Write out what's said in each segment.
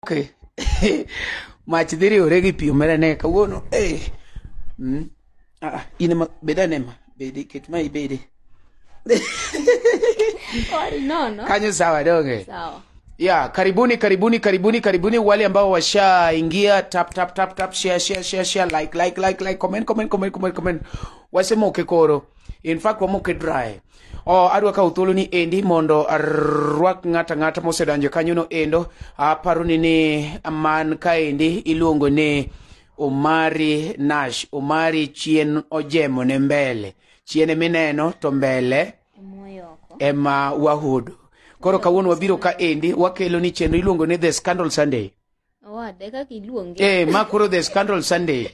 Okay. Mach dhi riwore gi pi omera ne kawuono. Eh. Mm. Ah, in ma beda ne ma. Bedi ket ma ibede. Sorry, no, no. Kanyo sawa donge. Sawa. Ya, karibuni karibuni karibuni karibuni wale ambao washaingia tap tap tap tap share share share share like like like like comment comment comment comment comment. Wasema ukekoro. In fact, wamoke dry. Oh, adwa kawo thuolo ni endi mondo arwak ng'ata ng'ata mosedonjo kanyono endo aparo ni ni man kaendi iluongo ni Omari Nash. Omari chien ojemo ne mbele. Chien mineno to mbele ema wahudo. Koro kawuono wabiro ka endi wakelo ni chenro iluongo ni The Scandal Sunday. Awada, kaka iluonge. Eh, ma koro the scandal Sunday.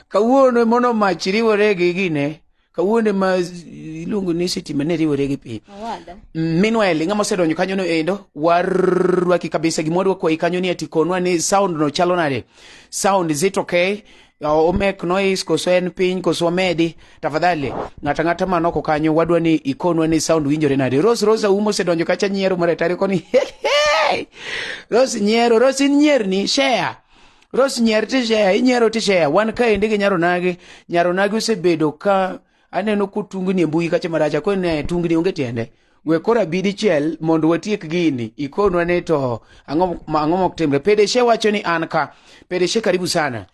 Kawuono e mono mach riwore gi gine. Kawuono e ma iluongo ni sitima ne riwore gi pi. Awada. Mm, Meanwhile, ng'ama osedonjo kanyo no endo, warwaki kabisa gimoro kwayi kanyo ni ati konwa ni sound no chalo nade. Sound is it okay? Yawa omek noise koso en piny koso wamedi tafadhali ng'ata ng'ata man oko kanyo wadwa ni ikonwa ni sound winjore nade Rose Rose auma osedonjo kacha nyiero maretari koni Rose nyiero Rose in nyierni share Rose nyier ti share inyiero ti share wan kaendi gi nyaronagi nyaronagi osebedo ka aneno kotungni e mbui kacha maracha koro ne tungni onge tiende we koro abi dichiel mondo watiek gini ikonwa ni to ang'o ma- ang'o mok timre pedeshe wacho ni an ka pedeshe karibu sana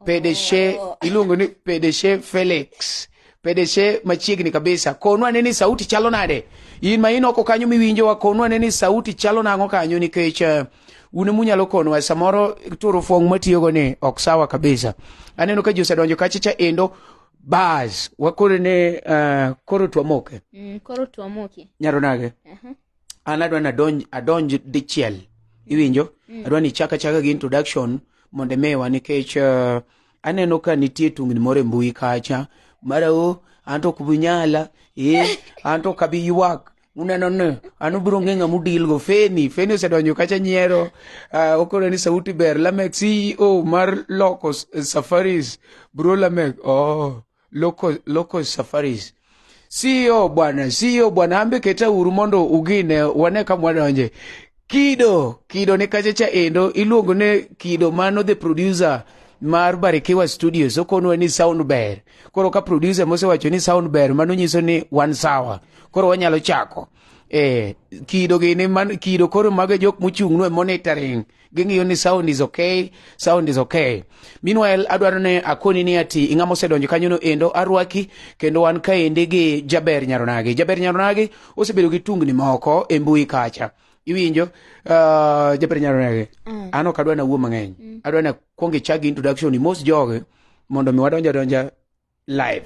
pedeshe iluongo ni pedeshe felix pedeshe machiegni kabisa konwa ane ni sauti chalo nade in ma in oko kanyo miwinjowa konwa ane ni sauti chalo nang'o kanyo nikech eh, un emunyalo konwa samoro turo fong' matiyogo ni ok sawa kabisa aneno ka ji osedonjo kachicha endo Bas, wakoro ne uh, koro twamoke. Mm, koro twamoke. Nyaro nage? Uh -huh. An adwa nadonj adonj dichiel. Iwinjo? Mm. Adwa ni chaka chaka gi introduction mondo emewa nikech uh, aneno ka nitie tungni moro e mbui kacha. Mara o, an to ok bunyala. Eh, an to ok abi ywak. uneno ni an ubiro ng'e ng'ama udilgo feni feni osedonjo kacha nyiero uh, okoro ni sauti ber lamek ceo mar loco safaris bro lamek oh, loco, loco safaris ceo bwana ceo bwana ambe keta uru mondo ugine wane kamwadonje Kido, Kido ne kachacha endo iluongo ne Kido mano the producer mar Barikiwa Studios okonwa ni sound ber. Koro ka producer mosewacho ni sound ber mano nyiso ni wan sawa. Koro wanyalo chako. Eh, kido gini man kido koro mago jok mochung' no e monitoring. Ging'iyo ni sound is okay, sound is okay. Meanwhile adwaro ne akoni ni ati ing'ama osedonjo kanyo no endo arwaki kendo wan kaendi gi Jaber Nyaronagi. Jaber Nyaronagi osebedo gi tungni moko e mbui kacha iwinjo uh, jaber nyalo nege mm. an ok adwa nawuo mang'eny mm. adwa na kwong ichak gi introduction ni mos joge mondo mi wadonja donja live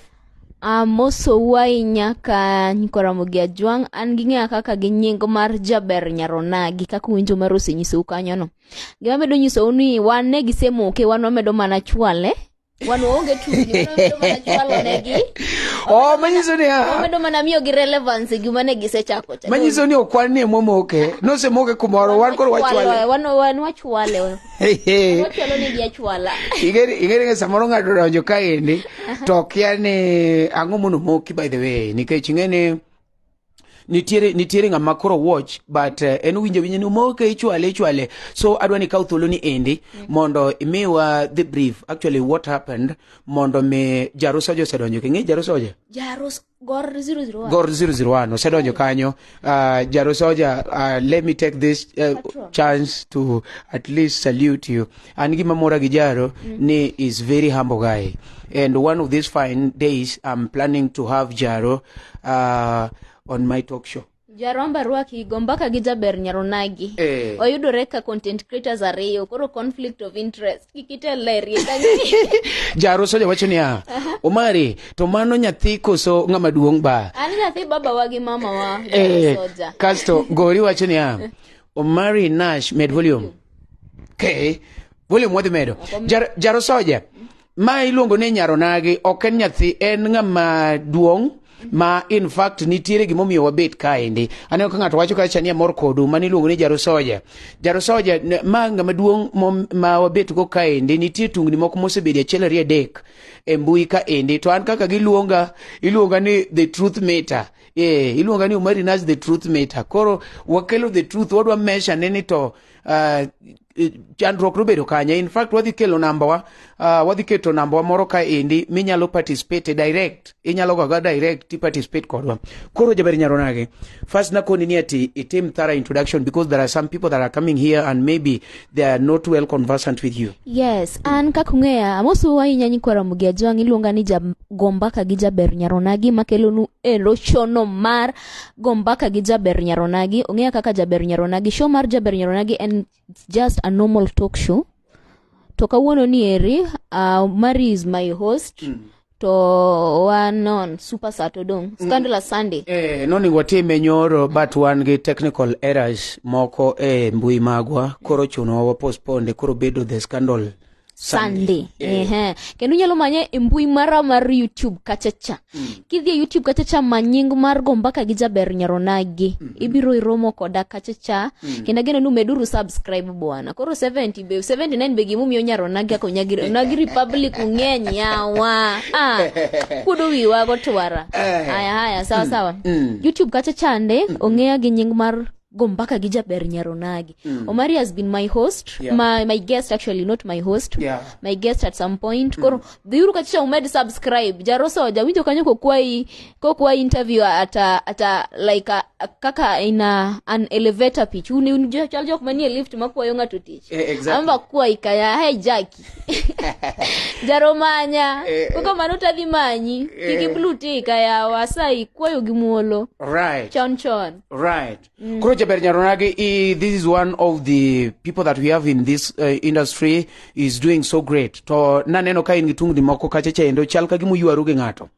Uh, moso wuai nyaka nyikoramo gi ajwang' an gi ng'eya kaka gi nying mar jaber nyaronagi kaka uwinjo mar osenyisou kanyono gima medo nyisou ni wan ne gisemoke wan wamedo mana chwale wan waonge tungni wamedo mana chwalo negi oh manyiso ni ah, wamedo mana miyo gi relevance e gima ne gisechako cha manyiso ni okwan ni emomoke nosemoke kumoro wan koro wachwale wan wan wachwale wachwalo negi achwala ingere ingere ni samoro ng'ato donjo kaendi to kia ni ang'o mono moki by the way nikech ing'e ni nitiere nitiere ng'ama koro watch but uh, en winjo winjo ni umoke ichwale ichwale so adwa ni kaw thuolo ni endi mm. mondo imiwa the brief actually what happened mondo mi jarus oja osedonjo king'e jarus oja jarus gor 001 gor 001 osedonjo kanyo uh, jarus oja uh, let me take this uh, chance to at least salute you an gima mora gi jaro ni is very humble guy and one of these fine days i'm planning to have jaro uh, on my talk show jaromba rwaki go mbaka gi jaber nyaronagi Eh. oyudore ka content creators ariyo koro conflict of interest kikitelerie jaro soja wacho niya omari to mano nyathi koso ng'ama duong' ba an nyathi babawa gi mamawa Eh, soja kasto gori wacho niya Omari Nash med volume. Okay. Volume wadhi medo. Jar, jaro soja. Ma iluongo ni nyaronagi ok en nyathi en ng'ama duong' ma in fact nitiere gimomiyo wabet kaendi aneno ka ng'ato wacho kacha ni amor kodu mani iluongo ni jaro soja jaro soja ma ng'ama duong' ma wabet go kaendi nitie tungni moko mosebedo achiel ariyo adek e mbui kaendi to an kaka giluonga iluonga ni the truth meter Eh, iluonga ni Umari Nash the truth meter. Koro wakelo the truth wadwa measure ne ni to uh, chandruok nobedo kanye. In fact wadhi kelo namba wa uh, wadhi keto namba wa moro ka endi minyalo participate direct. Inyalo gaga direct ti participate kodwa. Koro jaber nyaro nage. First nakoni ni ati itim thorough introduction because there are some people that are coming here and maybe they are not well conversant with you. Yes, an kaka ung'eya, amosu ahinya nyikwara Mugia Jwang' iluonga ni jagombaka gi jaber nyaronagi makelonu e lochono mar gombaka gi jaber nyaronagi. Ung'eya kaka jaber nyaronagi. Show mar jaber nyaronagi en just a normal talk show. To kawuono ni eri, uh, Mari is my host. Mm. to wan on super sat odong mm. scandalous sunday eh, noningo watime nyoro but wan gi technical errors moko e mbui magwa koro chunowa wapospone koro bedo the scandal sunday eh. eh. kendo inyalo manye e mbui mara mar youtube kachacha mm. kidhi e youtube kachacha ma nying mar go mbaka gi jaber nyaronagi mm. ibiro iromo koda kachacha mm. kendo ageno nu meduru subscribe bwana koro 70 be 79 be gimomiyo nyaro nagi ako nyagi nagi republic ung'eny yawa ah kudu wiwa go twara eh. haya haya sawa mm. sawa mm. youtube kacha chande mm. ong'eya gi nying mar go mpaka gi jaber nyaronagi mm. omari has been my host yeah. my, my guest actually not my host yeah. my guest at some point mm. koro dhiuru kacha umed subscribe jarosa wajawinjo kanyo kokwayi kokwayi interview ata ata like a, a, kaka ina an elevator pitch uni uni jo- chal jok manie lift makwayo ng'ato tich Eh, exactly. amba kwayi kaya hey jaki jaromanya Eh, koko mano tadhi manyi kiki eh. blue tika yawa asayi kwayo gi muolo right chon chon right Mm. Koro Jaber Nyaronagi, eh, this is one of the people that we have in this uh, industry is doing so great. To naneno ka in gi tungni moko kacha cha endo chal ka gima uywaru gi ng'ato.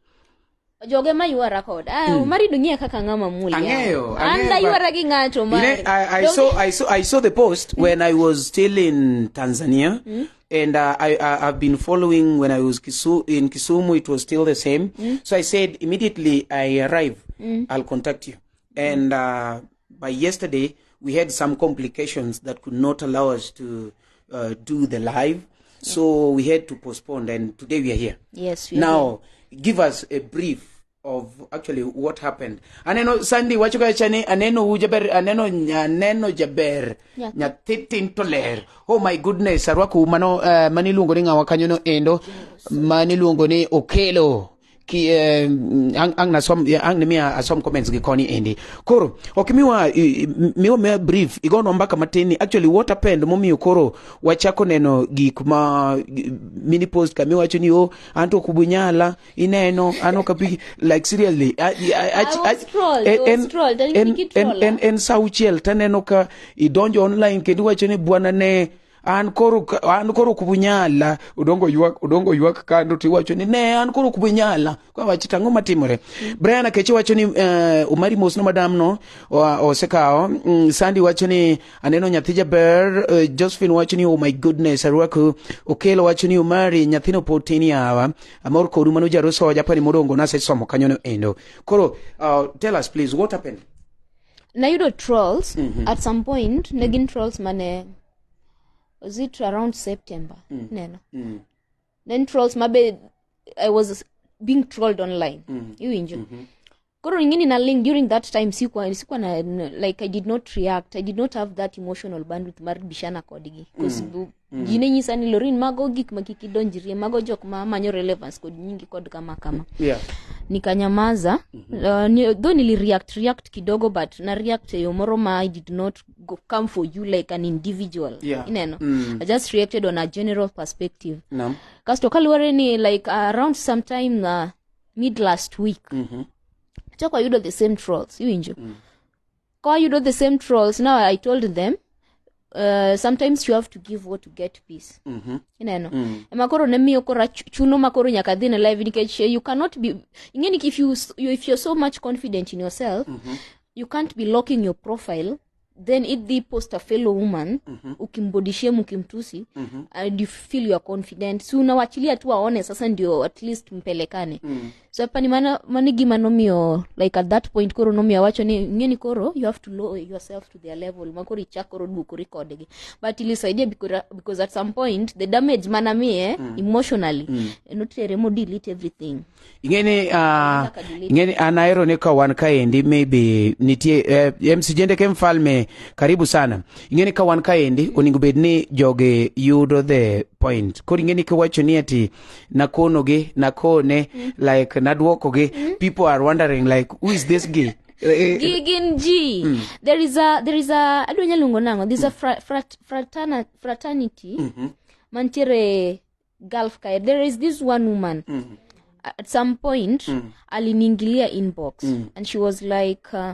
joge ma ywara kod ah, mm. omari dung'eya kaka ng'ama muli ang'eyo an daywara gi ng'ato ma I, I, saw, I, saw, I saw the post mm. when I was still in Tanzania mm. and uh, I, I have been following when I was Kisu, in Kisumu it was still the same mm. so I said immediately I arrive mm. I'll contact you And uh, by yesterday, we had some complications that could not allow us to uh, do the live. So we had to postpone, and today we are here. Yes, we are now, give us a brief of actually what happened. Aneno Sandy wacho ka chani aneno u jaber aneno aneno jaber Yeah. nyathi tin to ler. Oh my goodness, arwaku mano uh, maniluongo ni ng'awa kanyo no endo maniluongo ni Okelo. ki eh, ang, ang nasom eh, ang nimiya asom comments gi koni endi koro ok miwa i- i- miwa me brief igono mbaka matin ni actually what happened momiyo koro wachako neno gik ma gi- mini post kami wacho ni o anto kubunyala ineno ano kapi like seriously I, I, I, I was trolled, I was trolled, and en, Nikki en, troller. en, en saa uchiel taneno ka idonjo online kendo iwacho ni bwana ne an koro an koro ok bunyala udongo ywak udongo ywak kando to iwacho ni ne an koro ok bunyala kwa wach tango matimore Brian Akechi wacho ni uh, Omari Mosno madam no osekawo um, Sandy wacho ni aneno nyathi jaber uh, Josephine wacho ni oh my goodness arwaku Okelo wacho ni Omari nyathino pod tin yawa amor kodu mano jaroso japani modongo nase somo kanyono endo koro uh, tell us please what happened nayudo trolls at some point ne gin trolls mane was it around september neno then trolls mabe i was being trolled online iwinjo koro ingini na link during that time sikuwa sikuwa na n- like i did not react i did not have that emotional bandwidth mar bishana kodgi because Mm. ji ne nyisa ni lorin mago gik ma kik idonjrie mago jok ma manyo relevance kod nyingi kod kama kama Yeah. nikanyamaza uh, ni, though nili react react kidogo but na react eyo moro ma i did not go, come for you like an individual Yeah. ineno Mm. i just reacted on a general perspective Naam. kasto kaluwore ni like uh, around sometime uh, mid last week Mhm. chako ayudo the same trolls iwinjo Kwa yudo the same trolls. Now I told them uh, sometimes you have to give what to get peace mm-hmm. ineno mm. ema koro ne miyo koro chuno ma koro nyaka dhi ne live nikech eh, you cannot be ingeni if you, you if you're so much confident in yourself mm-hmm. you can't be locking your profile then it the post a fellow woman mm-hmm. ukimbodishia mkimtusi mm-hmm. and you feel you are confident si unawachilia tu aone sasa ndio at least mpelekane mm. so apani mano mano e gima nomiyo like at that point koro nomiyo awacho ni ng'eni koro you have to lower yourself to their level ma koro ichak koro duokori kodgi but ilisaidia because, because at some point the damage mana miye mm. emotionally mm. notere mo delete everything ing'eni uh, ing'eni an ahero ni ka wan kaendi maybe nitie eh, msijende ke mfalme karibu sana ing'eni ka wan kaendi onego bed ni jogi yudo the point koro ing'eni kiwacho ni ati nakonogi nakone like nadwokogi people are wondering like who is this guy Eh, Gi- gin ji there is a there is a adwa nya luongo nang'o there's a fra, frat, fratana, fraternity mantiere gulf kae there is this one woman at some point aliniingilia inbox and she was like uh,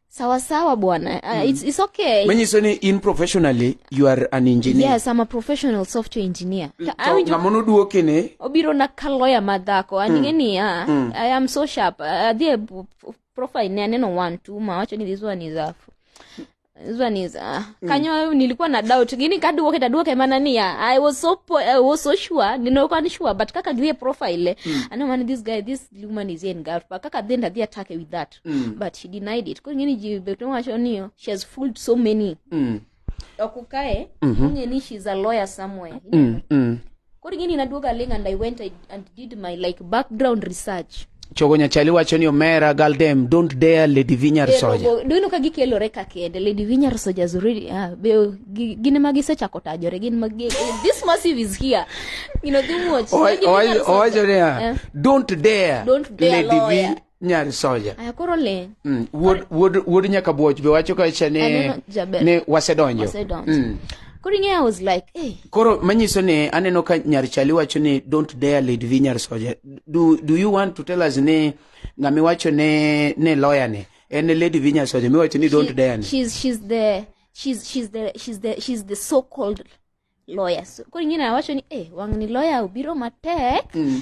sawa sawa bwana uh, mm. it's, it's okay manyiso ni in professionally you are an engineer yes i'm a professional software engineer mm, to awinjo ng'ama noduoki ni obiro na ka lawyer madhako mm. aning'e niya mm. i am so sharp uh, adhi e profile ne aneno one two ma wacho ni this one is a this one is uh, mm. kanyo nilikuwa na doubt gini kaduoke taduoke mana niya i was so po, i was so sure ninokuwa ni sure but kaka dhie profile mm. ano man this guy this woman is in girl but kaka then adhi atake with that fact Mm. but she denied it koro ing'eni ji bet nowacho ni she has fooled so many Mm. okukae Mhm. ing'e ni she's a lawyer somewhere Mm. Mm. koro ing'eni naduoga ling and i went I, and did my like background research chogo nyachali wacho ni omera galdem don't dare lady vinyar soja Erogo- do you know ka gikelore ka kende lady vinyar soldiers really ah, be, gi- gin ema gisechako tajore gin ma gi- this massive is here you know gimuoch Owa- Lady owa- Vinyar Soldier. owacho niya Eh. don't dare Don't dare lady lawyer." Vi- nyar soja aya koro le mm. wuod wuod wuod nyaka bwoch be wacho ka cha ne ne wasedonjo wasedonjo mm. koro ing'eyo i was like hey. koro manyiso ni aneno ka nyar chali wacho ni don't dare lead vi nyar soja do, do you want to tell us ni ng'ama wacho ne ne lawyer ni en e lady vi nyar soja miwacho ni don't dare ni she's, she's the she's, she's the she's the she's the so called loya so, koro ing'e nawacho ni eh, wang' ni loya obiro matek Mm.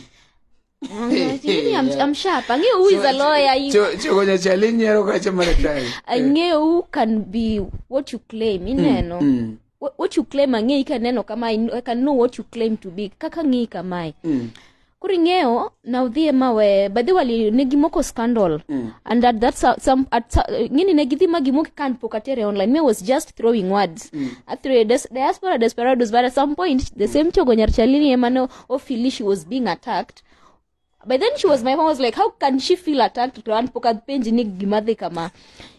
Wang' ni wacho ni, I'm, I'm sharp ang'eyo who is a lawyer you- Cho- chogo nyachali nyiero kacha maratari ang'eyo who can be what you claim ineno Mm. Wh- what you claim ang'eyi kaneno kamae I know what you claim to be kaka ng'eyi kamae Mm. koro ing'eyo na udhi e mawe badhi wali ne gimoko scandal mm. and at that so- some at so- ngini ne gidhi ma gimoki kan pok atere online me was just throwing words mm. athre des, diaspora desperados but at some point the same chogo nyar chalini emane ofili she was being attacked by then she was my mom was like how can she feel attacked to an pok apenji ni gima dhi kama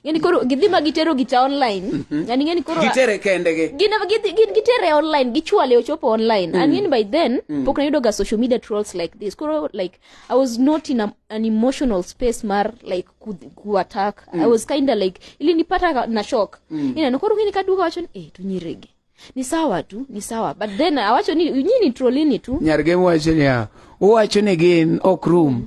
ngeni koro gidhi ma gitero gicha online mhm. yani ngeni koro gitere kende gi gin gin gitere online gichwale ochopo online mm. and ngeni by then mm. pok nayudo ga social media trolls like this koro like i was not in a, an emotional space mar like ku, ku attack mm. i was kinda like ili nipata na shock mm. ina koro ngeni kaduka wacho ni eh tunyirege ni sawa tu ni sawa but then awacho ni nyini trollini tu nyarge mwacho ni uwacho ni gin ok room mm.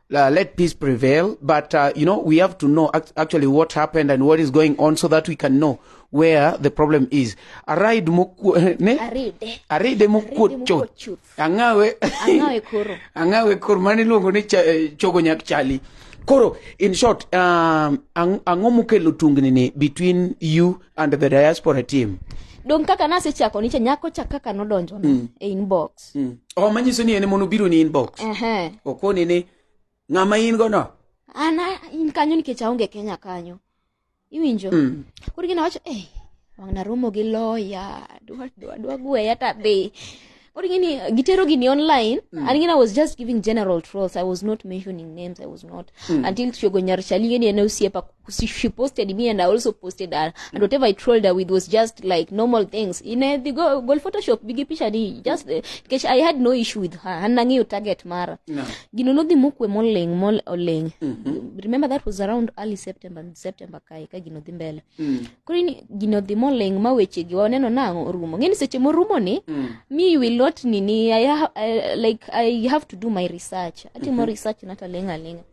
uh, let peace prevail. But, uh, you know, we have to know act- actually what happened and what is going on so that we can know where the problem is. Aride mukwo, ne? Aride. Aride mukwo Aride mukwo chuth. Angawe. Angawe koro. Angawe koro. Mani luongo ni cha, eh, chogo nyak chali. Koro, in short, um, ang- ang'o mukelo tungni ni between you and the diaspora team? Dong kaka nasechako nicha nyako cha kaka nodonjo na e inbox. Mm. Oh, manyiso ni en mono biro ni inbox. Ehe. Okoni ni ng'ama in go no. Ana in kanyo nikech aonge Kenya kanyo. Iwinjo? Mm. Koro gina wacho, eh, wang' naromo gi lawyer, dwa dwa dwa gweya ta be. Koro gini gitero gini online mm. and gini I was just giving general trolls. I was not mentioning names. I was not mm. until Tiogo Nyarshali gini ene osiepa she, she posted me and I also posted her and whatever I trolled her with was just like normal things in uh, the go, goal Photoshop bigi picha ni just uh, kesh I had no issue with her and nangeyo target mara No. gino nodhi mokwe moleng mol oleng remember that was around early September September kae ka gino dhi mbele koro ini gino dhi moleng ma weche gi waneno nang'o orumo ng'eni seche morumo ni me you will not nini I, ha- I, like I have to do my research atimo research nata lenga lenga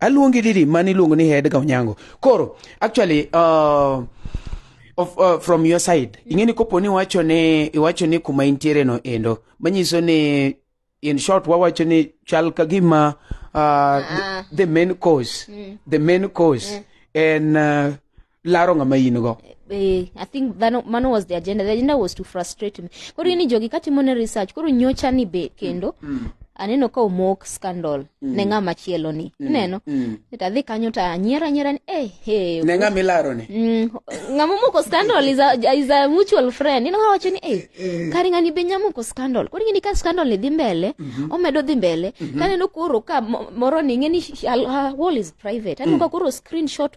aluongi didi mani iluongo ni head ga onyango koro actually uh, of, uh, from your side ing'e ni kopo ni iwacho ni iwacho ni kuma intiere no endo manyiso ni in short wawacho ni chal ka gima uh, the, the main cause mm. the main cause mm. en uh, laro ng'ama in go eh, I think that mano was the agenda. The agenda was to frustrate me. Koro ini jogi katimo ne research, koro nyocha ni be kendo. Mm. mm. Aneno ka omok scandal mm. ne ng'ama chielo ni. Mm. Neno. Mm. Eta dhi kanyo ta anyiera anyiera ni eh hey. Ne ng'ama ilaro ni. Mm. Ng'ama moko scandal is a, is a mutual friend. Ino wacho ni eh, eh. kari ng'ani be nyamo ko scandal. Koro ng'ini ka scandal ni dhi mbele, mm -hmm. omedo dhi mbele. Mm -hmm. Kaneno koro ka moro ni ng'eni uh, wall is private. Aneno mm. ka koro screenshot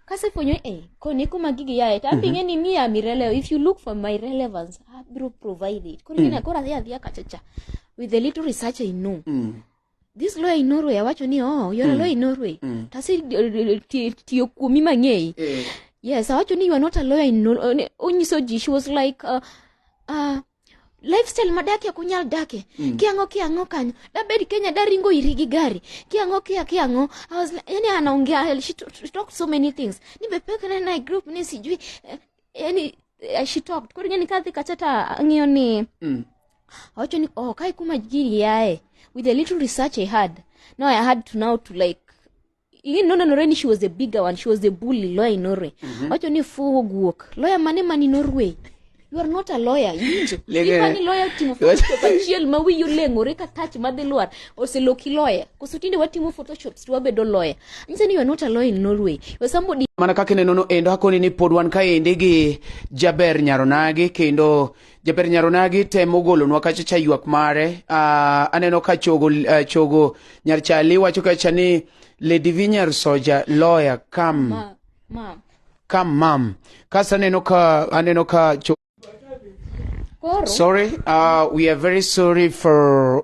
kasefwenyo e eh, koni kuma gigi yaye to ambi mhm. ng'e ni mi am irrelevant if you look for my relevance abiro provide it koro mm. koro adhi adhiya kachacha with the little research i know mm. this lawyer in norway awacho ni oh you're mm. a lawyer in norway mm. tasi tiyo kuomi mang'eyi eh. yes awacho ni you are not a lawyer in norway onyiso ji she was like uh, uh, lifestyle madakie kunyal dakie mm. kiang'o kiang'o kanyo dabed kenya daringo iri gi gari kiang'o kia kiang'o I was like, yani anaongea she, t- she talked so many things ni be pek na na group ni sijui eh, yani eh, she talked koro ngeni kadhi kachata ang'iyo ni Mm. awacho ni oh kai kuma giri yae with the little research i had now i had to now to like Lynn nonenore ni she was a bigger one, she was a bully lawyer in Norway. Wacho ni fuwo guok. Lawyer mane mani Norway? You are not a lawyer, iwinjo? Lege- Ipani lawyer timo photoshop achiel ma wiyi oleng'ore ka touch madhi lwar oseloki lawyer. Koso tinde watimo photoshops to wabedo lawyer. Nyisa ni you are not a lawyer in Norway. You are somebody mana kaka inenono endo akoni ni pod wan kaendi gi jaber nyaronagi kendo Jaber Nyaronagi temo golonwa kacha cha ywak mare. Uh, aneno ka chogo, uh, chogo nyar chali wacho kacha ni Lady Vinyar Soja lawyer come. Ma, ma. Come mom. Kasa aneno ka aneno ka cho Koro. Sorry, uh, we are very sorry for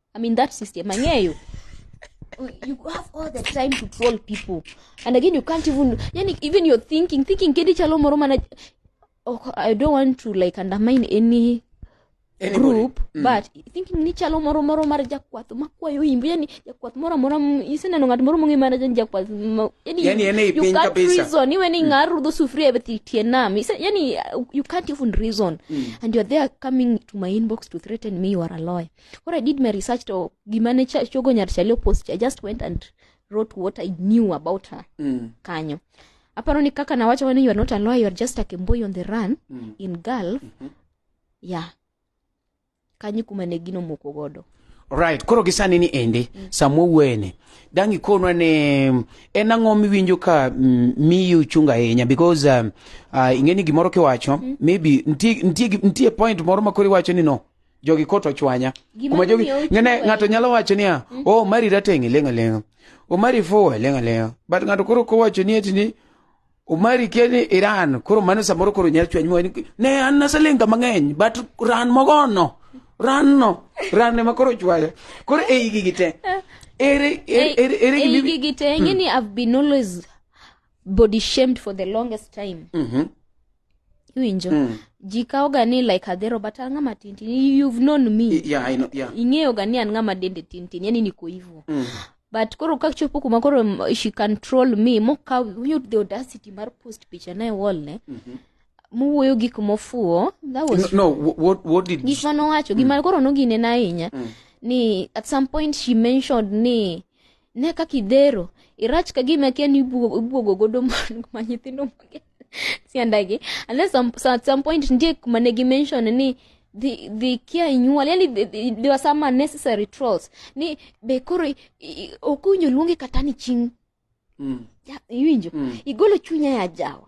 I'm in that system. Angeyo. You have all the time to troll people. And again, you can't even, yani, even you're thinking, thinking, kedi chalo moro mana, oh, I don't want to like undermine any Anybody. group mm. but thinking ni chalo moro moro mar jakwath makwayo imbu yani jakwath moro moro iseneno ng'at moro mong'e mana jan jakwath yani, yani ene you can't kabisa. reason iwe ni mm. ng'ar rudho sufuria e tie nam yani you can't even reason mm. and you're there coming to my inbox to threaten me you are a lawyer what I did my research to gimane cha- chogo nyar chalio post I just went and wrote what I knew about her Mm. kanyo aparo ni kaka nawacho wani you are not a lawyer you are just a kemboi on the run Mm. in Gulf Mhm. yeah kanyo kuma ne gino moko godo Alright, koro gisani ni ende samwa wuene dangi konwa ne mm, en ang'o miwinjo ka mm, miyi uchunga ahinya because um, uh, ing'eni gimoro kiwacho maybe ntie, ntie, gi- ntie point moro ma koro iwacho ni no jogi kot ochwanya kuma jogi ngene ng'ato nyalo wacho niya mm. o oh, mari rateng' ilenga lenga o oh, mari fuwa ilenga lenga but ng'ato koro kowacho ni eti ni Umari keni Iran koro mano samoro koro nyalo chwanyi wani ne an naselinga mang'eny but ran mogono ran no ran ema koro chwaya koro e igi gite ere ere ere e igi gite ng'e ni mm. I've been always body shamed for the longest time Mhm. iwinjo Mm. ji kawoga ni like adhero but an ng'ama tintin you've known me I- yeah, I know, yeah. ing'eyoga ni an ng'ama dende tintin yani niko hivo Mm. but koro kachopo kuma koro m- she control me mokaw winjo the audacity mar post picha naye wolne mowuoyo gik mofuwo that No, was no wh- what, what did gik mane owacho gima koro noginena ahinya ni at some point she mentioned ni ne kaka idhero irach ka gima kia ni ibuogo ibuogo godo man- ma nyithindo mage siandagi and then some, so at some point ndie kuma ne gimention ni the the kia inyuol yani the- the- there were some unnecessary trolls ni be koro i- i- ok owinjo luonge kata ni ching Mm. Ja- iwinjo Mm. igolo chunya ya jawa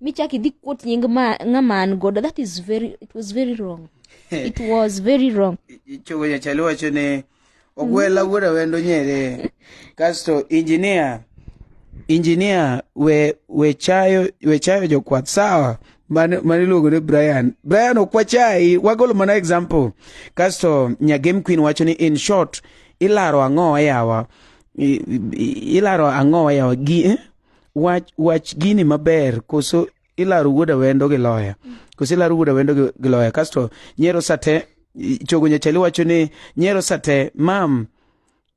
michak idhi kuot nying ng'ama an godo that is very it was very wrong it was very wrong chogo jachali wacho ni ogwela mm. wuoda wendo nyere kasto injinia injinia we we chayo we chayo jokwath sawa mane iluongo ni brian brian ok wachayi wagolo mana example kasto nyagem queen wacho ni in short ilaro ang'o yawa ilaro ang'o yawa gi eh? wach wach gini maber koso ilaro wuod awendo gi loya koso ilaro wuod awendo gi- gi loya kasto nyero sate i- chogo nyachali wacho ni nyero sate mam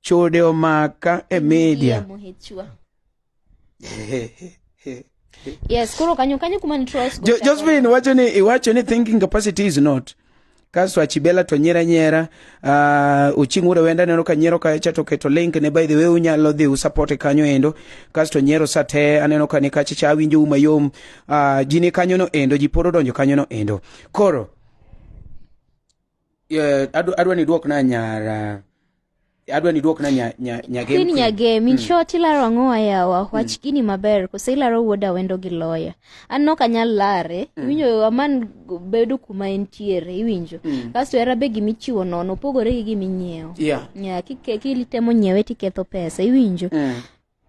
chode omaka e media Muhichwa. yes koro kanyo kanyo kuma ni trolls go Jo- chakore. josephine wacho ni iwacho ni thinking capacity is not kasto achibela to nyiera nyiera uh, uching ure wenda neno ka nyiero kacha to keto link ne by the way unyalo dhi usapote kanyo endo kasto nyiero sa te aneno ka ni kacha cha awinjo u mayom uh, ji ni kanyo no endo ji pod odonjo kanyo no endo koro yeah, adwa ni duok na nyara adwa ni iduokna nya, nya, nya game Queen queen. Nyagem, in short ilaro ang'o ayawa? Wach gini maber, kose ilaro wuod awendo gi loya. An nok anyal lare, iwinjo aman g- bedo kuma entiere, iwinjo. Kasto era be gima ichiwo nono, opogore gi gima inyiewo. Yeah. Yeah, kike- kitemo nyiewe tiketho pesa, iwinjo. Mm.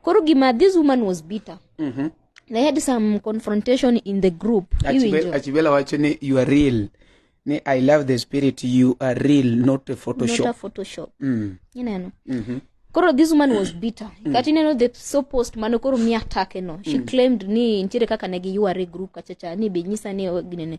koro gima this woman was bitter Mhm. they had some confrontation in the group Achibel- iwinjo achibela wacho ni you are real ni i love the spirit you are real not a not a photoshop photoshop mm. ineno Mhm. koro this woman was bitter kata ineno the so post mane koro mi atake no she claimed ni nitiere kaka ne giyuare group kachacha ni be nyisa ni o- ginene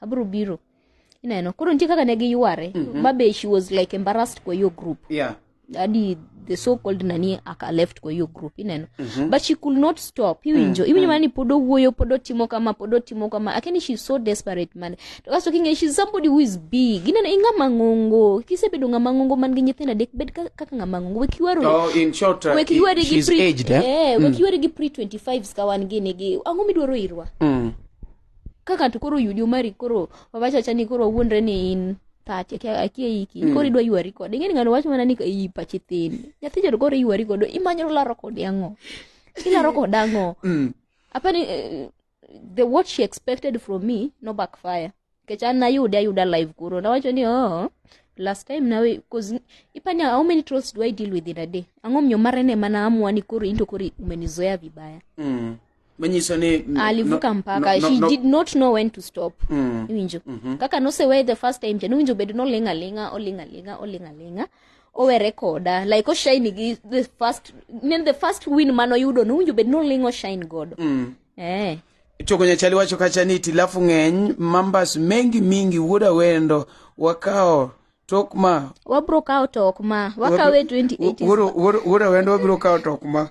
abro biro ineno koro nitie kaka ne giyware mm -hmm. mabe she was like embarrassed kwa hiyo group yeah hadi the so called nani aka left kwa hiyo group ineno mm -hmm. but she could not stop iwinjo mm, iwinjo mm. mani pod owuoyo pod otimo kama pod otimo kama akini she's so desperate man to kasto kinge she's somebody who is big ineno ing'ama ng'ongo kisebedo ng'ama ng'ongo man gi nyithindo adek bed ka- kaka ng'ama ng'ongo wek yuarori oh in short uh, wek yuari gi she's pre aged, eh? eh, wek yuari gi pre 25 ska wan gini gi ang'o midwaro irwa mm. ka ng'ato koro oyudi omari koro wawacho acha ni koro wuondre ni in pache kia- akia iki Mm. koro idwa ywari kode ing'eni ng'ano wacho mana ni iyi pache thin nyathi joro koro iywari kode imanyo laro kode ang'o ilaro kode ang'o Mm. apani eh, the what she expected from me no backfire kech an nayude ayuda live kuro nawacho ni oh last time nawe cause ipani how many trolls do i deal with in a day ang'o miyo mare ne mana amua ni koro into koro umenizoea vibaya Mm. manyiso ni n- alivuka no- mpaka no- no- she no- did not know when to stop Mm. iwinjo Mhm. kaka nosewe the first time cha nowinjo bedo noling' aling'a oling' aling'a oling' aling'a owere koda like oshine gi the first nen the first win mane oyudo nowinjo bedo noling' oshine godo Mm. eh chogo nyachali wacho kacha ni tilafu ng'eny mambas mengi mingi wuod awendo wakawo tok ma wabro kawo tok ma wakawe 28 wuoro wuoro- wuoro wendo wabiro kawo tok ma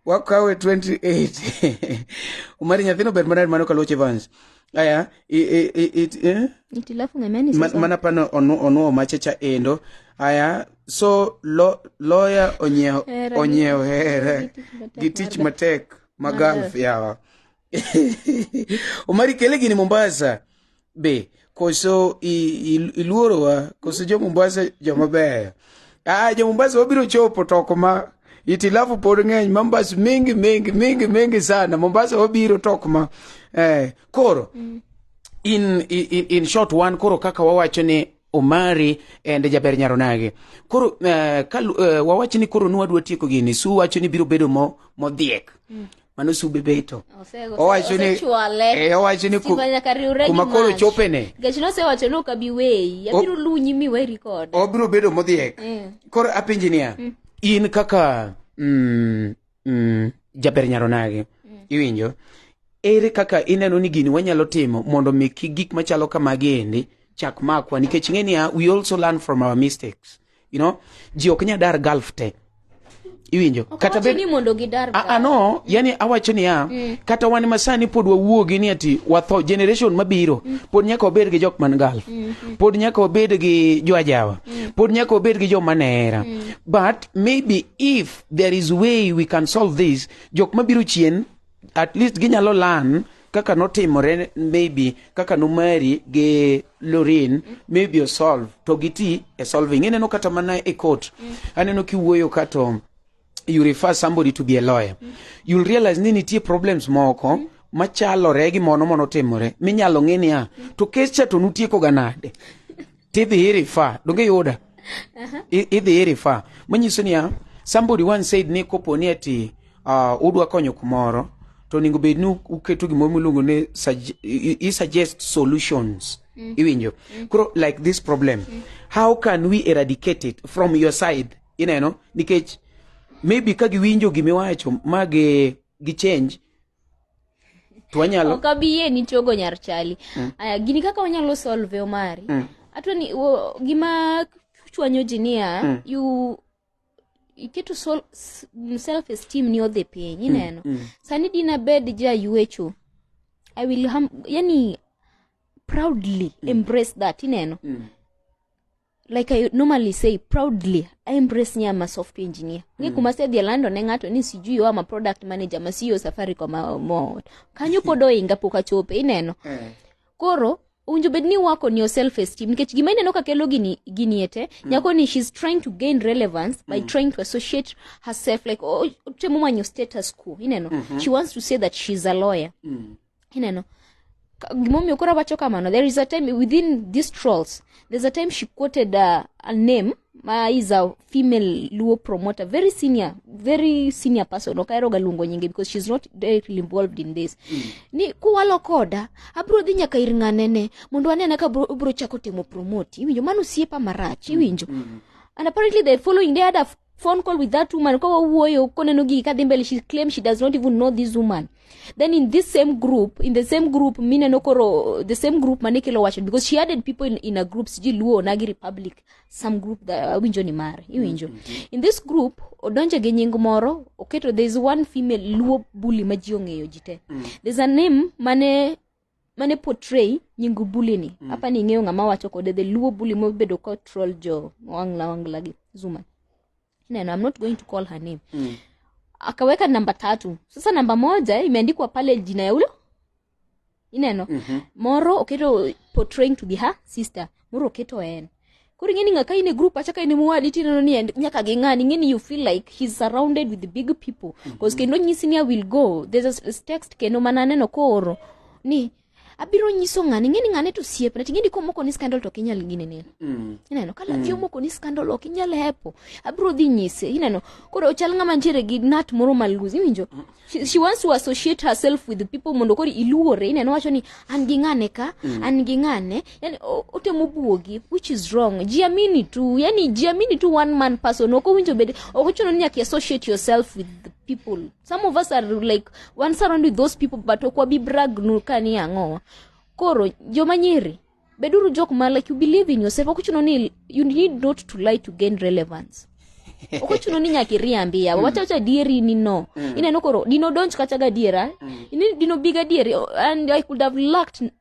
wakawe 28 omari nyathino ber maner mano kaluoch evans aya i- i- i- it- eh? itilafu ng'emeni Ma- sasa mana pano onu- onuo machecha endo aya so lo, loya onyiewo Hera. onyiewo here Gitich matek. gi tich matek ma galf yawa omari kele gini mombasa be koso i- i- iluorowa koso jo mombasa joma beyo ah jo mombasa wabiro chopo to ok ma itilafu pod ng'eny mambas mingi mingi mingi mingi sana mombasa wabiro to ok ma eh, koro in, in, in short one koro kaka wawacho ni omari and jaber nyaronage koro uh, kal, uh, wawacho ni koro nwadwa tieko gini su wacho ni biro bedo mo, modhiek mm. mano sube beto owacho ni eh, owacho ni kuma koro chopene nikech nosewacho ni ok abi weyi abiro lunyi mi we record obiro bedo modhiek eh. koro apenji niya mm. in kaka mm, mm, jaber nyaronagi mm. iwinjo ere kaka ineno ni gini wanyalo timo mondo mi gik machalo kamagi endi chak makwa nikech ing'e niya we also learn from our mistakes you know ji ok nya dar gulf te iwinjo kata bed ni mondo gidar a, a no yani awacho niya mm. kata wan masani pod wawuogi ni ati watho generation mabiro mm. pod nyaka wabed gi jok man gal mm. mm. pod nyaka wabed gi joajawa mm. pod nyaka wabed gi joma nera mm. but maybe if there is way we can solve this jok mabiro chien at least ginyalo lan kaka notimore maybe kaka nomari gi lorin maybe osolve to giti e solving ineno kata mana e court aneno kiwuoyo kato you refer somebody to be a lawyer you'll realize ni nitie problems moko machalore gi mono monotimore minyalo ng'e niya to kes cha to nutiekoga nade tidhi irifa donge yuda idhi irifa manyiso niya somebody one said ni kopo ni ati uh, udwa konyo kumoro to onego bed ni uketo gimoro miluongo ni i suggest solutions mm. iwinjo mm. koro like this problem mm. how can we eradicate it from your side ineno nikech maybe ka giwinjo gimiwacho ma gi change to wanyalo ok abi yie ni chogo nyar chali mm. aya gini kaka wanyalo solve omari mm. atwa ni wo, gima chwanyo ji niya mm. you iketo sol, s- m- self esteem ni odhi piny ineno mm. sani dina bed ja yuecho i will hum, yani proudly mm. embrace that ineno mm. like I normally say proudly I embrace ni I'm a software engineer ngi kuma se dhia lando ne ng'ato ni sijui yo ama product manager ma CEO Safaricom ma- mo kanyo pod oinga pok achope ineno koro owinjo bed ni work on your self esteem nikech gima ineno ka kelo gini gini ete nyako ni she's trying to gain relevance by trying to associate herself like oh, temo manyo status quo ineno she wants to say that she's a lawyer ineno Ka- gimomiyo koro awacho kamano there is a time within these trolls there's a time she quoted uh, a name ma is a female luo promoter very senior very senior person ok aheroga luongo nyinge because she's not directly involved in this ni kuwalo koda abro dhi nyaka ir ng'anene mondo anene ka bro- obro chako temo promote iwinjo mano osiepa marach iwinjo and apparently the following day ada phone call with that woman kwa wawuoyo koneno gigi kadhi mbele she claim she does not even know this woman then in this same group in the same group mineno koro the same group mane kelo wacho because she added people in, in a group siji luo nagi republic some group that awinjo ni mare iwinjo in this group odonje gi nying moro oketo there is one female luo bully ma ji ong'eyo ji te there's a name mane mane portray nyingu bully ni mm. hapa ni ng'eyo ng'ama wacho kode the luo bully mobedo ko troll jo wangla wangla gi zuma neno i'm not going to call her name mm. akaweka namba tatu sasa namba moja imeandikwa pale jina ya ulo ineno mm-hmm. moro oketo portraying to be her sister moro oketo en koro ing'eni ng'a ka in e group acha ka in mowadi tineno ni en- nyaka gi ng'ani ing'eni you feel like he's surrounded with big people bcause kendo nyisi ni i will go there's a s- text kendo mana aneno kooro ni abiro nyiso ng'ani ing'eni ng'ane to siepna ting'eni komoko ni scandal to ok inyal gine neno Mm. ineno ka lathi omoko ni scandal ok inyal hepo abiro dhi nyise ineno koro ochal ng'ama ntiere gi nat moro maluz iwinjo She, she wants to associate herself with people mondo koro iluore ineno wacho ni an gi ng'ane ka mm. an gi ng'ane yani otemo buogi which is wrong jiamini tu yani jiamini tu one man person ok owinjo bed ok ochuno ni nyaka associate yourself with the people some of us are like one surround with those people but ok wabi brag nu ka ni ang'owa koro joma nyiri beduru jok ma like you believe in yourself ok ochuno ni you need not to lie to gain relevance ok ochuno ni nyaka iriambi yawa wacha wacha adieri ni no ineno koro dino donj kata gadiera Ini- dino bi gadieri oh, and i could have lacked n-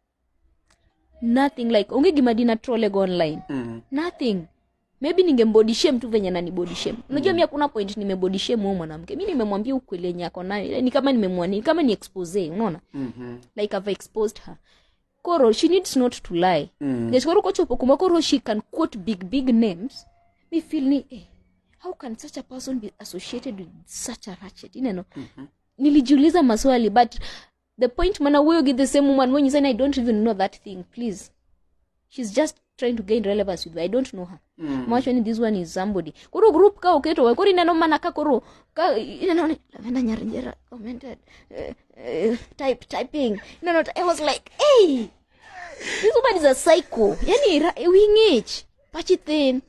nothing like onge gima dina trolego online Mm. nothing maybe ningembody shame tu venye nani body shame unajua mi hakuna point nimebody shame huyo mwanamke mi nimemwambia ukweli yenye ako nayo ni kama nimemwani ni kama ni expose unaona Mhm. like I've exposed her koro she needs not to lie mm. nikech koro kochopo kuma koro she can quote big big names mi feel ni eh, how can such a person be associated with such a ratchet ineno mm -hmm. nilijiuliza maswali but the point mana wuoyo gi the same woman monyisa ni i don't even know that thing please she's just trying to gain relevance with me. I don't know her. Mm. Mawacho ni this one is somebody. Koro group ka oketo wa koro ineno mana ka koro ka ineno ni Lavenda Nyarinjera commented uh, uh, type typing. No no I was like, "Hey, this woman is a psycho." Yani ra- wing'ich, pachi thin.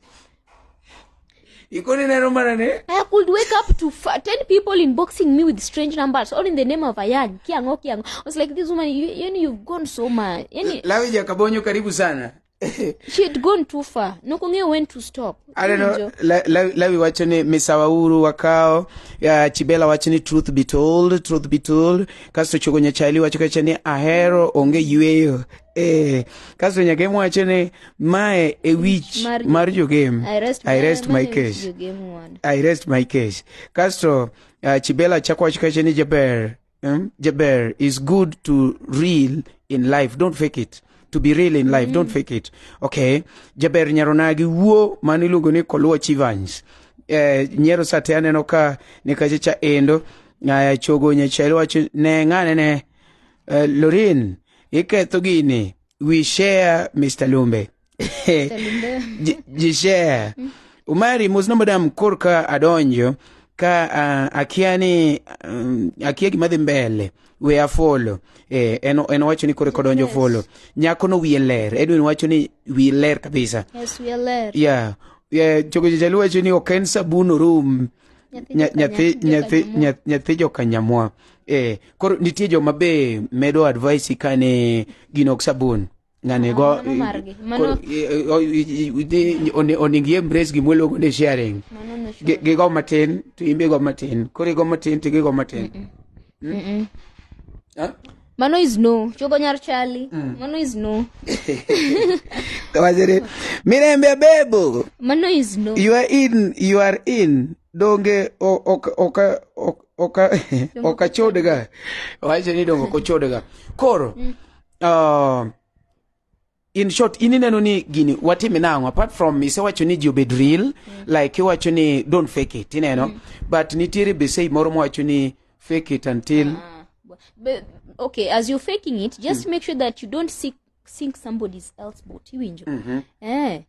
Ikoni neno mana ni. I could wake up to f- 10 people inboxing me with strange numbers all in the name of Ayan. Kiango, kiango. I was like, this woman, you, you, you've gone so much. Yani, Lawi ja kabonyo karibu sana. she had gone too far. Nokongeo went to stop. I don't know. Njo. La, la, lawi wacho ni misawauru wakao ya chibela wacho ni truth be told truth be told kasto chogo nyachali wacho kacha ni ahero onge yueyo Eh, kasto nyaka em wacho ni mae e wich Mar- mar jogem I rest, I rest my case Jogem ward. I rest my case. Castro, uh, Chibela Chakwach Kashani Jaber, um, Jaber is good to real in life. Don't fake it. To be real in life, don't fake it. Okay. Jaber Nyaronagi Wuo Manilugo ni Kolua Chivans. Eh, Nyero sate aneno ka ni kache cha endo. Ngaya chogo nyechelo wacho ne ngane ne eh, Lorin Iketho gini. We share Mr. Lumbe. Ji- ji share. Umari mos nombo dam korka adonjo ka ah, akia ni um, akia gima dhi mbele we afolo eh, en, en wacho ni kore kodonjo Yes. folo nyako no wiye ler edwin wacho ni wiye ler kabisa Yes, we are led. ya yeah. yeah, chogo jaluo wacho ni ok en sabun orum nyathi nyathi nyathi jokanyamwa eh koro nitie joma be medo advice kane gin ok sabun ngane ah, go oning ye embrace gimwe logo ne sharing gi go matin to imbe go matin koro go matin to gi go matin mm? Mano is no. Chogo nyar chali. Mm. Mano is no. Kawajere. Mirembe bebo. Mano is no. You are in. You are in. Donge oka oka oka oka chodega. Wacha ni dongo kochodega. Koro. Mm. Uh, in short in ineno ni gini watime nang'o apart from isewacho ni ji obed real mm. like iwacho ni don't fake it ineno mm. but nitiere besei moro mowacho ni fake it until ah, but, okay as you're faking it just mm. make sure that you don't seek sink somebody else's boat iwinjo mm -hmm. eh,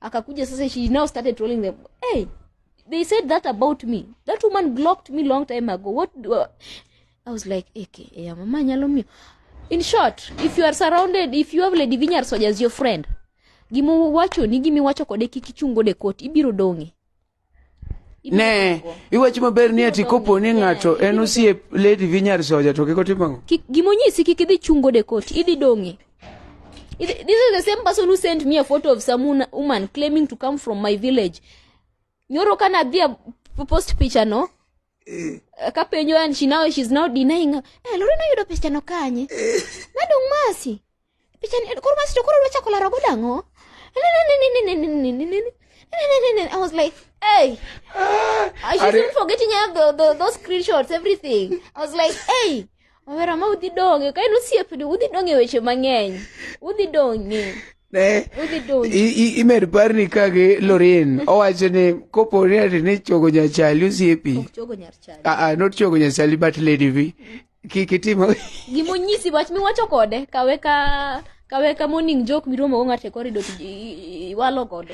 akakuja sasa she now started trolling them hey they said that about me that woman blocked me long time ago what do I, I was like eke hey, mama nyalo miyo in short if you are surrounded if you have lady vinyar soldiers your friend gima wachoni gima iwacho kode kik ichungo de kot ibiro dong'e ne iwacho maber ni ati kopo ni ng'ato en osiep lady vi nyar soja to kik otim ang'o Kik- gimonyisi kik idhi chungo de koti idhi dong'e Idhi- this is the same person who sent me a photo of some una- woman claiming to come from my village nyoro kana adhi a- post picha no Eh. Ka penjo and she now she's now denying. Eh, lori no yudo pesa no kanye. Eh. Nadong masi. Pesa ni koro masi to koro dwa chako laro godo ang'o? I was like, hey, I shouldn't forgetting have the, the, those screenshots, everything. I was like, hey, Awera ma udhi dong'e, ka en osiepni udhi dong'e weche mang'eny. Udhi dong'e. Ne, Udhi dong'e. i- i- imed parni ka gi Lorin owacho ni kopo ni ati ni chogo nyachali osiepi Ok chogo nyar chali. ah, ah, not chogo nyachali but lady vi kik itim Gima onyisi wach miwacho kode, kawe ka kawe ka morning joke miromo go ng'ato e corridor to i- i- iwalo godo.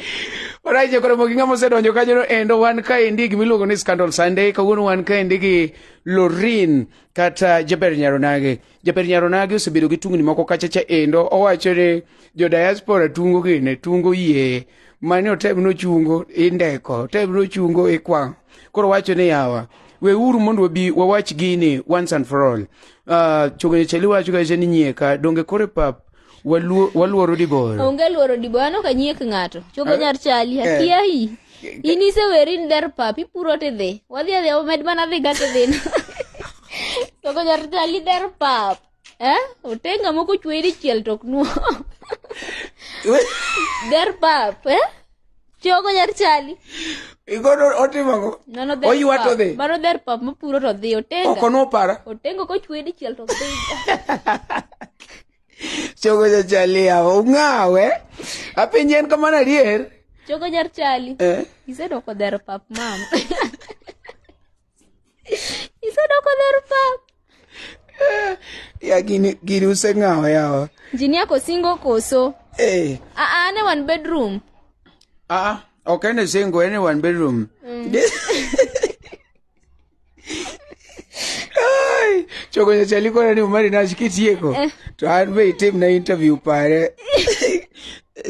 Oraje koro mogi ng'ama osedonjo kanyono endo wan kaendi gimiluongo ni Scandal Sunday kawuono wan kaendi gi Lorin kata jaber nyaronage jaber nyaronage osebedo gi tungni moko kachacha endo owacho ni jo diaspora tungo gine tungo yie mane otem nochungo indeko otem nochungo ikwang' koro wacho ni yawa weuru mondo wabi wawach gini once and for all uh, chogene chali wacho kacha ni nyieka donge kore pap waluoro diboro onge luoro diboro anok anyiek ng'ato chogo nyar chali eh. akiayi in iseweri ni der pap ipuro tidhi wadhi adhi omed mana dhi ga tidhina chogo nyar chali der pap eh otenga moko chweri chiel tok nuo der pap eh Chogo nyar chali. Igodo otimo go. Mano dher Oywa pap. to dhi. Mano dher pap mopuro to dhi otenga. Oko nopara. Otengo kochwe dichiel to dhi. Chogo nyar chali yawa. Ung'awe. Apenji en kamano adier. Chogo nyar chali. Eh. Isedoko dher pap mama. Isedoko dher pap. Ya gini gini useng'awo yawa. Injinia kosingo koso. Eh. Ah ah, ane one bedroom. Ah, ok ene singo ene one bedroom. Ai, chogo nyacha likona ni umari nachi kitieko. To an be itim na interview pare.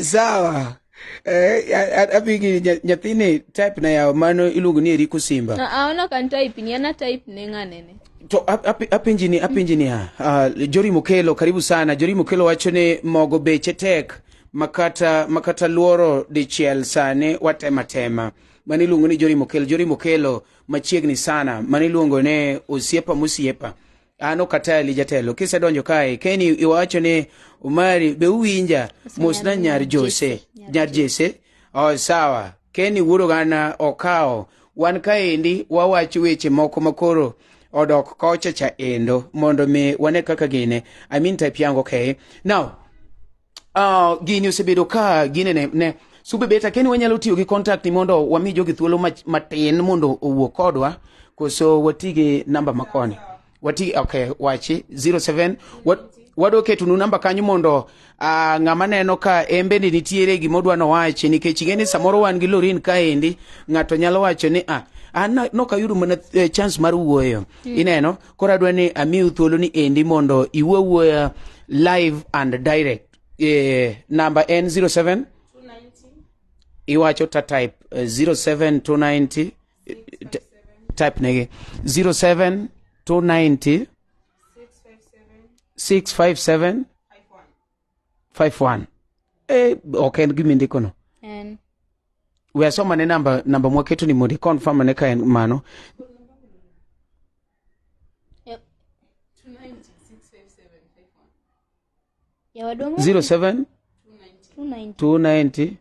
Sawa. Eh, a- a- adhi gi nya- nyathini type na yawo mano iluongo ni eriko simba Ah, ah, ono kan type ni ana type ne ng'anene to ap- ap- apenji ni apenji ni ha ah, jori mokelo karibu sana jori mokelo wacho ni mogo beche tek makata makata luoro dichiel sani watema tema mano iluongo ni jori mokelo jori mokelo machiegni sana mano iluongo ni osiepa mosiepa an ok ateli jatelo kisedonjo kae keni iwacho ni umari be uwinja mosna nyar jose nyar jese oh, sawa keni wuoro gana okawo wan kaendi wawacho weche moko makoro odok kocha cha endo mondo mi wane kaka gine i mean type yango okay now Uh, gini osebedo ka gine ne, ne sube beta keni wanyalo tiyo gi contact ni mondo wami jogi thuolo matin mondo owuo kodwa koso wati gi namba makoni wati okay wachi 07 wat, wadwa ketonu namba kanyo mondo uh, ng'ama neno ka embe ni nitiere gima odwa nowachi nikech ing'e ni samoro wan gi lorin kaendi ng'ato nyalo wacho ni ah an nokayudo mana eh, chance mar wuoyo ineno koro adwa ni amiu thuolo ni endi mondo iwuo awuoya live and direct eh, namba en 07 iwacho ta type eh, 07290 eh, t- type negi 07290 657 five one eh, ok en gima indikono en we asoma ne namba namba mwaketo ni mondo iconfirm ane ka en mano Yep. yawaduong' 07 290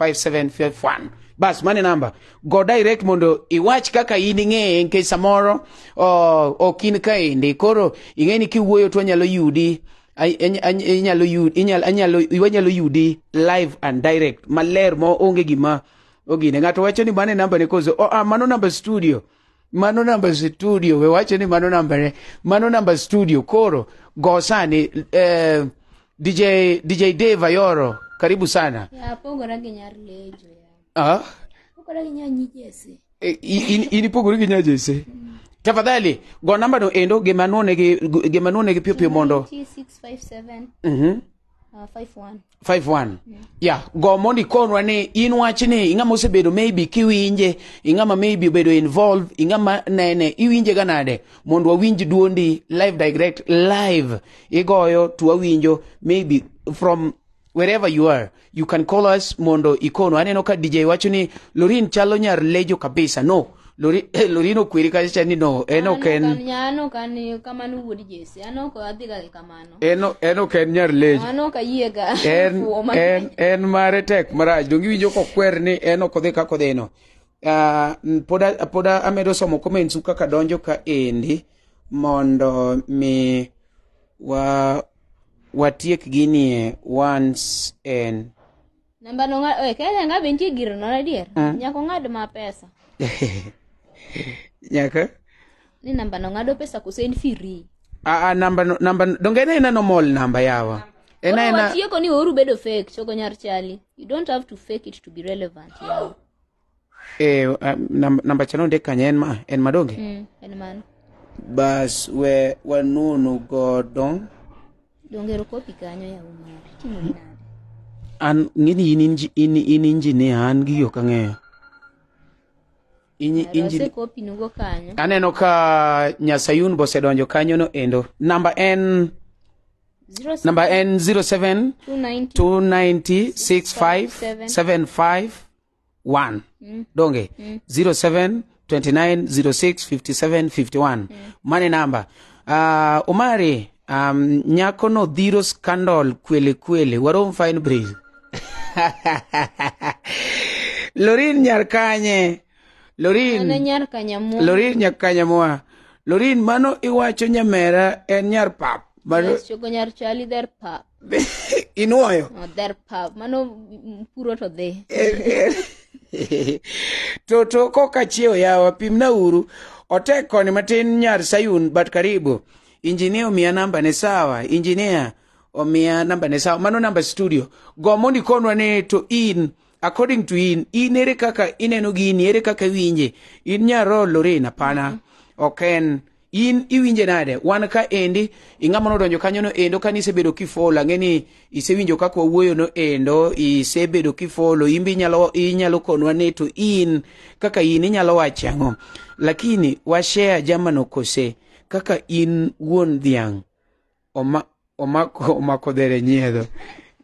0729065751 bas mane namba go direct mondo iwach kaka in ing'eye nikech samoro oh, ok in kaendi koro ing'e ni kiwuoyo to anyalo yudi Ay- any- any- inyalo yu- inyal- anyalo wanyalo yudi live and direct maler ma onge gima ogine ng'ato wacho ni mane namba ne koso oh, ah, mano namba studio mano namba studio we wache ni mano nambane mano namba studio koro go sani eh, dj dj dave ayoro karibu sana Ya, pogora gi nyar lejo ya. ah? Pogora gi nyar nyijese. Eh, in- in ipogori gi nyajese tafadhali go nambano endo gimanwone gi gimanwone gi piyo piyo mondo 657 Mhm. Uh, five one. five one ya go mondo ikonwa ni in wach ni ing'ama osebedo maybe kiwinje ing'ama maybe obedo involve ing'ama nene iwinje ga nade mondo wawinj duondi live direct live igoyo to wawinjo maybe from wherever you are you can call us mondo ikonwa aneno ka dj wacho ni lorin chalo nyar lejo kabisa no lorino kweri kacha cha ni no en ok en an ok an kamano wuod jesi an ok adhiga gi kamano en en ok en nyar lejo an ok ayiega en en en mare tek marach donge iwinjo kokwer ni en ok odhi kaka odhino uh, pod pod amedo somo comments kaka donjo ka endi mondo mi wa watiek ginie once and Namba no ng'ad, oye, kaya nga be nitie gir nono adier. Ah. Nyaka ong'ad ma pesa. Nyaka? Ni namba no ng'ado pesa kose en free. Ah, ah, namba no, namba no, donge ena ena normal namba yawa. Ena Koro ena, watieko ni oru bedo fake, chogo nyar chali. You don't have to fake it to be relevant. yawa. Eh, uh, nam- namba cha nondik kanye en ma en ma donge mm, en mano bas we wanunu godo donge ero kopi kanyo yawo mari timo gi nade an ng'eni in inji- in in injinia an gi yo kang'eyo Inyi- Ero injini- ase kopi nugo kanyo aneno ka nyasayun bosedonjo kanyono endo namba en zero namba en 07 290 290 65 75 1 donge 07 29 06 57 51 mane namba Ah, omari um, nyako no dhiro scandal kwele kwele warom fine breeze lorin nyar kanye lorin Mano nyar kanyamu. lorin nyar kanyamoa lorin mano iwacho nyamera en nyar pap mano Yes, chogo nyar chali der pa. inuoyo odher pap mano mm, puro to dhi to to koka chiewo yawa pimna uru otek koni matin nyar sayun but karibu injinia omiya namba ne sawa injinia omiya namba ne sawa mano namba studio go mondo ikonwa ni to in according to in in ere kaka ineno gini ere kaka iwinje in nyarol lorin apana ok en in iwinje nade wan ka endi ing'ama nodonjo kanyo no endo kane isebedo kifolo ang'e ni isewinjo kaka wawuoyo no endo isebedo kifolo imbe inyalo, inyalo konwa ni to in kaka in inyalo wacho ang'o lakini washare jamano kose kaka in wuon dhiang' Oma, omako omako dhere nyiedho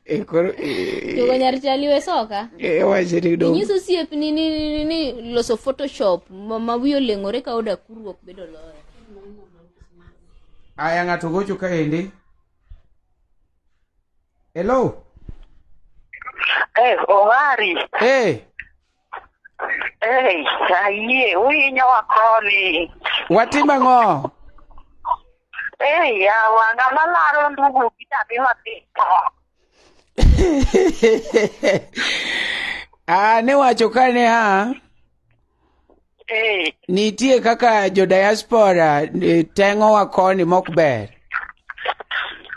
e koro e, Jogo nyar chali we soka. e, wache ni dong Inyiso siep ni ni, ni, ni, ni loso photoshop ma, ma wiyo leng'ore ka oda kurruok bedo loyo. aya ng'ato gocho kaendi hello Eh, Omari, eh Ei, ayie, uhinyowa koni. Watim ang'o? Ei, yawa, ng'ama laro ndugu gi nyathi matito. Ah, ne wacho ka ne a Ee, Nitie kaka jo diaspora eh, teng'owa koni mok ber.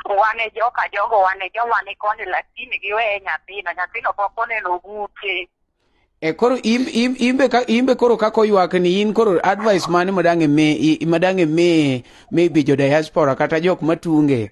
wan e joka jogo wan e joma ni koni lakini giweye nyathino nyathino pok oneno bute E koro im- im- imbe ka imbe koro kako ywak ni in koro advice mane madang' imi i- madang' imi maybe jo diaspora kata jok matunge.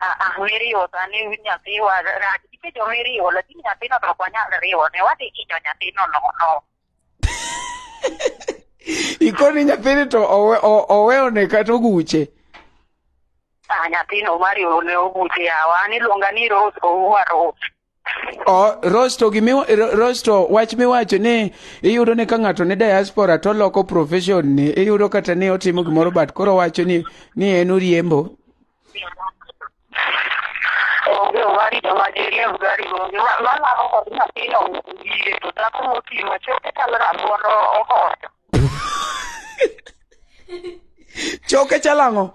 Ah, ah, miriwo sani nyathiwa rach nikech omiriwo lakini nyathino to ok wanyal riwo ne wadhi hinyo nyathino nono ikoni nyathini to owe- o- oweyone kata oguche Ah, nyathino mariwo ne oguche yawa an iluonga ni rose ouwa rose rosto gimi rosto wach miwacho ni iyudo ni ka ng'ato ni diaspora to loko profession ni iyudo kata ni otimo gimoro but koro wacho ni ni en uriembo onge owari to ma jiriemb gari onge malaro kod nyathino wiye to dhako moting'o choke chal rabuon ohoyo choke chal ang'o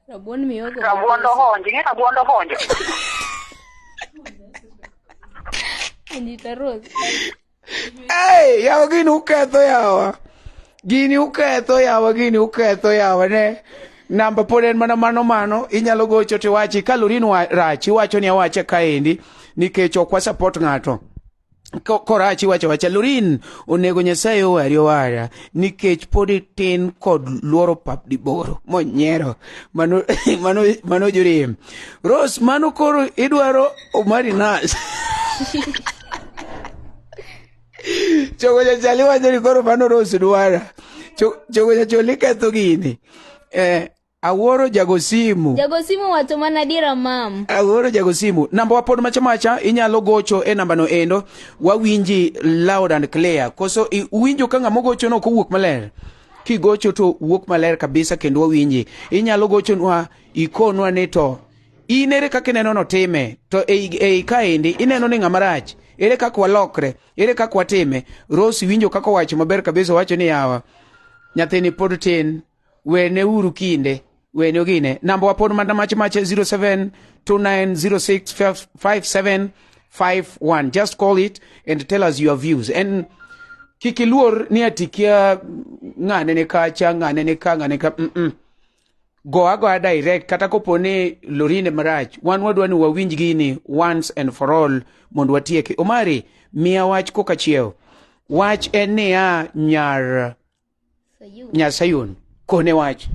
Rabuon miyogo. Rabuon dohonji, ing'e rabuon dohonjo. Anita Rose. Hey, yawa gini uketho yawa. Gini uketho yawa, gini uketho yawa ne. Namba pod en mana mano mano, inyalo gocho tiwachi kalori ni wa- rach, iwacho ni awacha kaendi nikech ok wa support ng'ato. korachi wacho wacha lorin onego nyasaye owari owara nikech pod itin kod luoro pap diboro monyiero mano mano mano jorem rose mano koro idwaro omari nas chogo jachali wacho ni koro mano rose dwara chogo jacholi ketho gini eh, Awuoro jago simu. Jago simu wacho mana adiera mam. Awuoro jago simu. Namba wa pod macha macha inyalo gocho e namba no endo. Wawinji loud and clear. Koso uwinjo ka ng'ama gocho no kowuok maler. Kigocho to wuok maler kabisa kendo wawinji. Inyalo gocho nwa ikonwa ni to in ere kaka ineno no time to ei ei kaendi ineno ni ng'ama rach ere kaka walokre ere kaka watime Rose winjo kaka wacho maber kabisa wacho ni yawa nyathini pod tin wene uru kinde wene ogine namba wapod mana mach mach 0729065751 just call it and tell us your views and kik iluor ni atikia ng'ane ne kacha ng'ane ne ka ng'ane ka mm -mm. go agoya direct kata kopo ni lorine marach wan wadwa ni wawinj gini once and for all mondo watieke omari miya wach kokachiew wach en niya nyar nya Sayun kone wach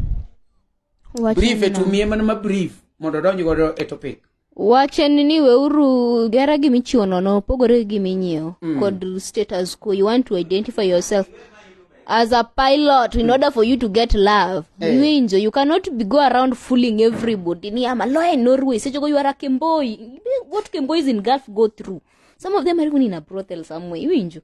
brief e tumie mana ma brief mondo odonj godo e topic wach en ni weuru gera gima ichiwo nono opogore gi gima inyiewo mm. kod status quo you want to identify yourself as a pilot in order for you to get love hey. Eh. winjo you cannot be go around fooling everybody ni am a lawyer in norway sechogo you are a kemboi what kembois in gulf go through some of them are even in a brothel somewhere iwinjo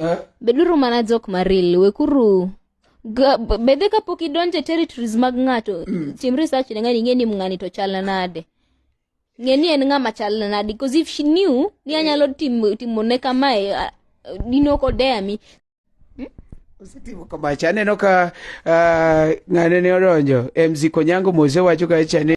Eh? beduru mana jok maril wekuru Ga- b- bedhe kapok idonjo e territories mag ng'ato tim research ne ng'ani ing'e ni ng'ani to chal nade ng'e ni en ng'ama chal nade because if she knew ni anyalo timo timone kamae ah, dino kodeya mi Osetimo kama cha aneno ka ah, ng'ane ne odonjo MC Konyango Mose wacho ka cha ne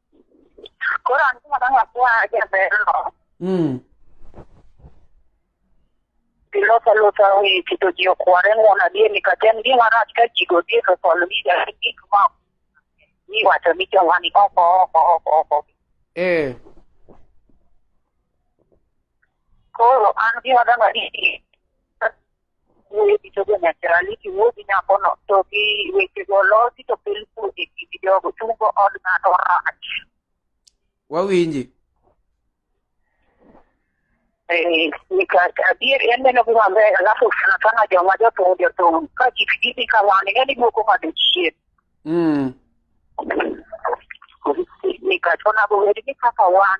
Koro an gima dang' akwa jaberno, Mm. pilosa losa wi keto ji okware ng'uon adier nikech en gima rach ka ji go dier osol wiga gi gik ma iwacho ni joma ni oko oko oko oko. Eh. Koro an gima dang' adier wuoyo gi jogo naturality, wuoyo gi nyakono to gi wechego losi to kel kodhi e gi jogo chungo od ng'ato rach. Wawinji. Eh, adier en neno gi maber alafu sana sana joma jothum jothum ka gik gidhi ka wan ing'eni duoko ng'ado chien. Mm. Nikech onego bed ni kaka wan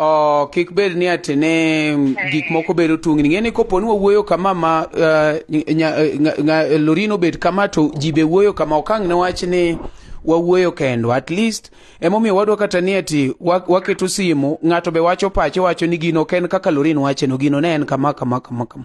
Oh, kik bed ni atene gik moko bedo tungni ng'e ni kopo ni wawuoyo kama ma uh, nya, nga, nga, lorin obed kama to ji be wuoyo kama okang ne wach ni wawuoyo kendo at least emomiyo wadwa kata ni ati waketo simu ng'ato be wacho pache wacho ni gino ok en kaka lorin wacheno gino ne en kama kama kama kama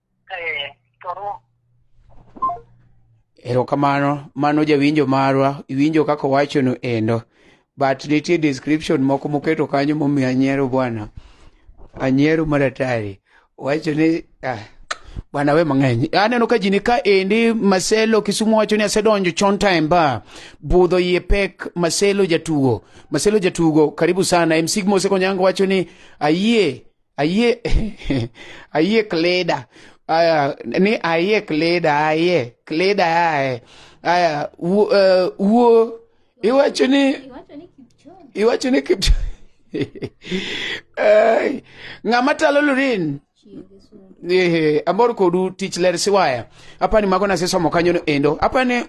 Eh, toro. erokamano mano jawinjo marwa iwinjo kaka owachono endo but nitie description moko moketo kanyo momiyo anyiero bwana anyiero maratari wacho ni ah, bwana we mang'eny aneno ka jini ka endi maselo kisumu wacho ni asedonjo chon time ba budho iye pek maselo jatugo maselo jatugo karibu sana msigmo osekonyango wacho ni ayie ayie ayie kleda aya ni ayie kleda ayie kleda aye aya wuo eh, wuo iwacho ni Iwacho ni Kipchoge. iwacho ni kipto Ai, ng'ama talo lurin Chiege suru. Ehe, amor kodu tich ler siwaya apani mago nasesomo kanyono endo apani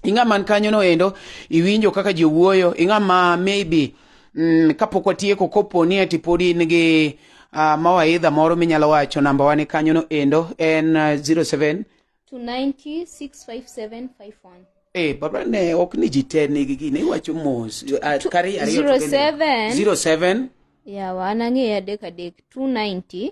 ing'a man kanyo no endo iwinjo kaka ji wuoyo ing'a ma maybe mm, kapok watieko kopo ni ati pod in gi uh, mawaidha moro minyalo wacho namba wane kanyo no endo en uh, 07 290 65751. Eh, baba ne ok ni ji te nigi gini iwacho mos ah, kari ariyo to kende. 07. 07 Yawa, anang'eyo adek adek. 290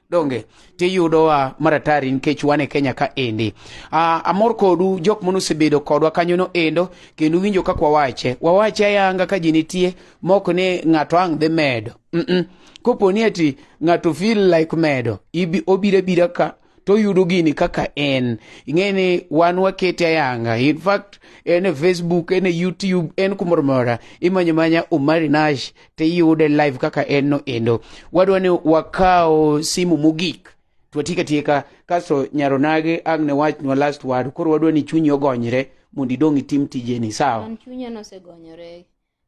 donge tiyudowa maratari nikech wan e kenya ka endi uh, amor kodu jok mane osebedo kodwa kanyono endo kendo winjo kaka wawache wawache ayanga ka ji nitie mok ni ng'ato ang' dhi medo mm -mm. kopo ni ati ng'ato feel like medo ibi, obiro abira ka to yudo gini kaka en ing'e ni wan wakete ayanga in fact en e facebook en e youtube en kumoro mora imanyo manya omari nash tiyude live kaka en no endo wadwa ni wakaw simu mogik twatieka tieka kasto nyaronage ang ne wachnwa last word koro wadwa ni chunyi ogonyre mondo idong itim tijeni sawa An chunya nosegonyore.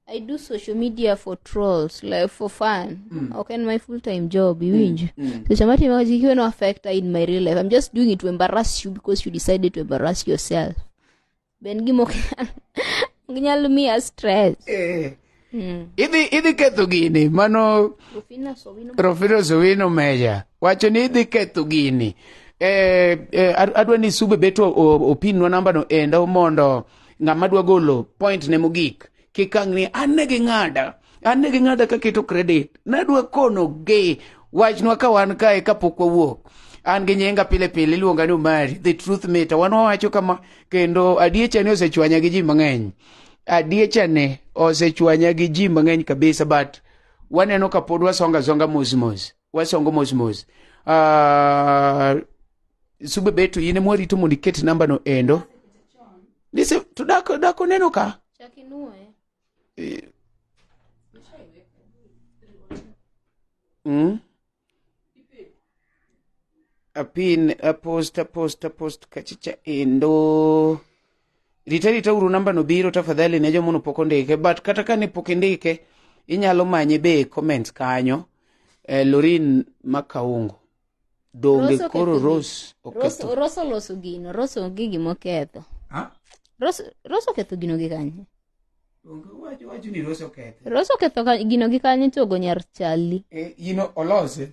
I do social media for trolls, like for fun. Mm. Okay, in my full time job, iwinjo. Mm. So chama time kazi kiwe no affect in my real life. I'm just doing it to embarrass you because you decided to embarrass yourself. be en gima ok nyal- ok nyal miya stress Eh, Mm. idhi idhi ketho gini mano Rufina Sowino Rofino Sowino Meja wacho ni idhi ketho gini eh, eh, ad- adwa ni sube beto o- opinwa nambano endo mondo ng'ama dwa golo point ne mogik kikangni an ne ging'ada an ne ging'ada kaketo credit nadwa konogi wachnwa ka wan kae kapok wawuok an gi nyinga pile pile iluonga ni Omari the truth meter wan wawacho kama kendo adiecha ni osechwanya gi ji mang'eny adiecha ne osechwanya gi ji mang'eny kabisa but waneno ka pod wasonga songa mos mos wasongo mos mos uh, sube beto in ema warito mondo iket nambano endo nise to dak dak oneno ka Chak inwoye. Eh, mm? apin apost apost apost kachicha endo rita rita uru namba no biro tafadhali ne jomono pok ondike but kata ka ne pok indike inyalo manye be e comments kanyo eh, lorin makaungo donge Rose koro oketho rose oketho Rose- Rose oloso gino Rose onge gima oketho Ha? Rose Rose oketho gino gi kanye Donge wacho- wacho ni rose oketho Rose oketho ka- gino gi kanye to ogo nyar chali Eh, in olose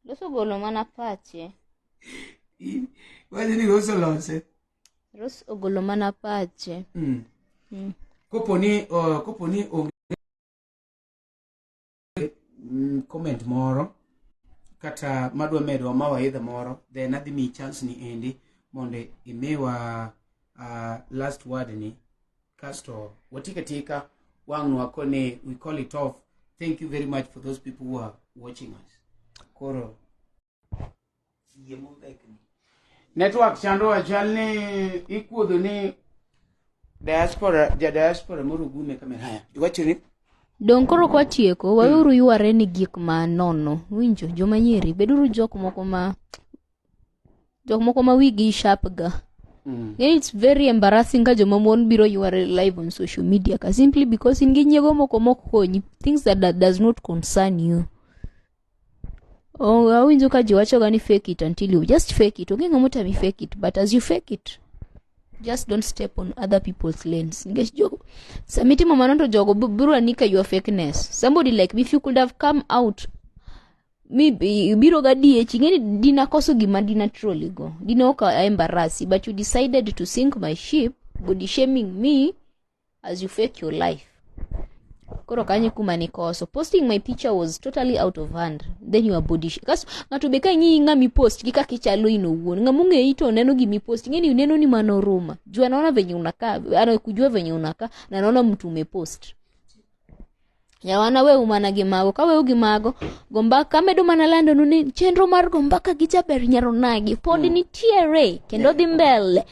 Rose ogolo mana pache In- wacho ni rose olose Rose ogolo mana pache. Mm. Mm. Kopo ni uh, kopo ni onge mm, comment moro kata madwa medo ma waidha moro then adhi mi chance ni endi mondo imiwa uh, last word ni kasto watika tika wang' wako ni we call it off thank you very much for those people who are watching us koro network chandowa chal ni ikuodho ni diaspora ja diaspora moro gume kamera haya iwacho ni Dong koro kwa tieko, hmm. waweuru yuare ni gik ma nono. Winjo, joma nyiri, beduru jok moko ma... Jok moko ma wigi sharp ga. Mm. It's very embarrassing ka joma mon biro yuare live on social media ka simply because in gi nyiego moko mok konyi. Things that, that does not concern you. Oh, awinjo ka ji wachoga ni fake it until you just fake it onge ng'ama otami fake it but as you fake it just don't step on other people's lanes nikech jogo sama itimo mano to jogo bi- biro ani ka your fakeness somebody like me if you could have come out mi bi- biro ga diechi ing'eni dina koso gima dina troli go dina ok aembarasi but you decided to sink my ship body shaming me as you fake your life koro kanye kuma nikoso posting my picture was totally out of hand then your body sh- kaso ng'ato be ka ing'iyi ng'ama ipost gi kaka ichalo in owuon ng'ama ong'eyi to oneno gima ipost ing'eni uneno ni mano ruma juu anaona venye unakaa anakujua venye unakaa na anaona mtu umepost yawa naweu mana gi mago kaweu gi mago go mbaka amedo mana landonu ni chenro mar go mbaka gi jaber nyaronagi pod mm. nitiere kendo dhi mbele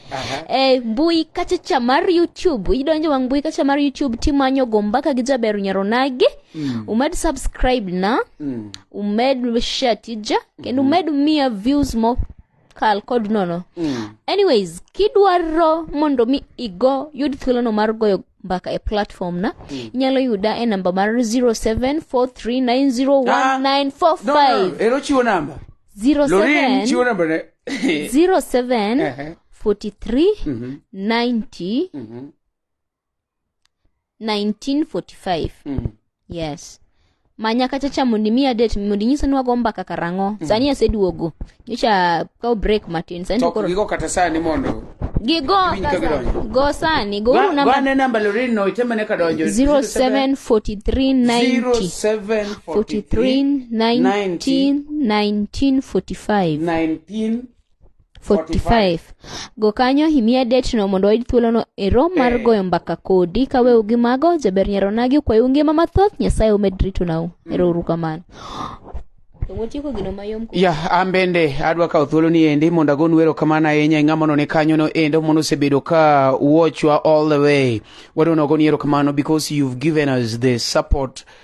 e mbui kachacha mar youtube idonjo wang mbui kachacha mar youtube timanyo go mbaka gi jaber nyaronagi mm. umed subscribe na mm. umed share tija kendo mm. umed miya views mo kal kod nono mm. anyways kidwaro mondo mi igo yud thuolono mar goyo mbaka e platform na mm. inyalo yuda e namba mar 0743901945 chiwo namba 07 43 90 1945 Mm. yes manya kacha cha mondo imi adet mondo inyisa ni wago mbaka karang'o sani aseduogo nyocha kaw break matin sani to To koro gigo kata sani mondo gigo Winj ka gidonjo. go sani go Ba- namba bane namba lorin no itemene ka donjo 074390 0743 1945 19 45 go kanyo imiya date no mondo wayud thuolono e rom mar Eh. goyo mbaka kodi ka weu gi mago jaber nyaronagi okwayou ngima mathoth nyasaye omed ritonau ero uru kamano to wotieko gino mayom ku- ya an bende adwa kawo thuolo ni endi mondo agonu erokamano ahinya e ng'ama none kanyono endo mondo osebedo ka watchwa all the way wadwa nogoni erokamano because you've given us the support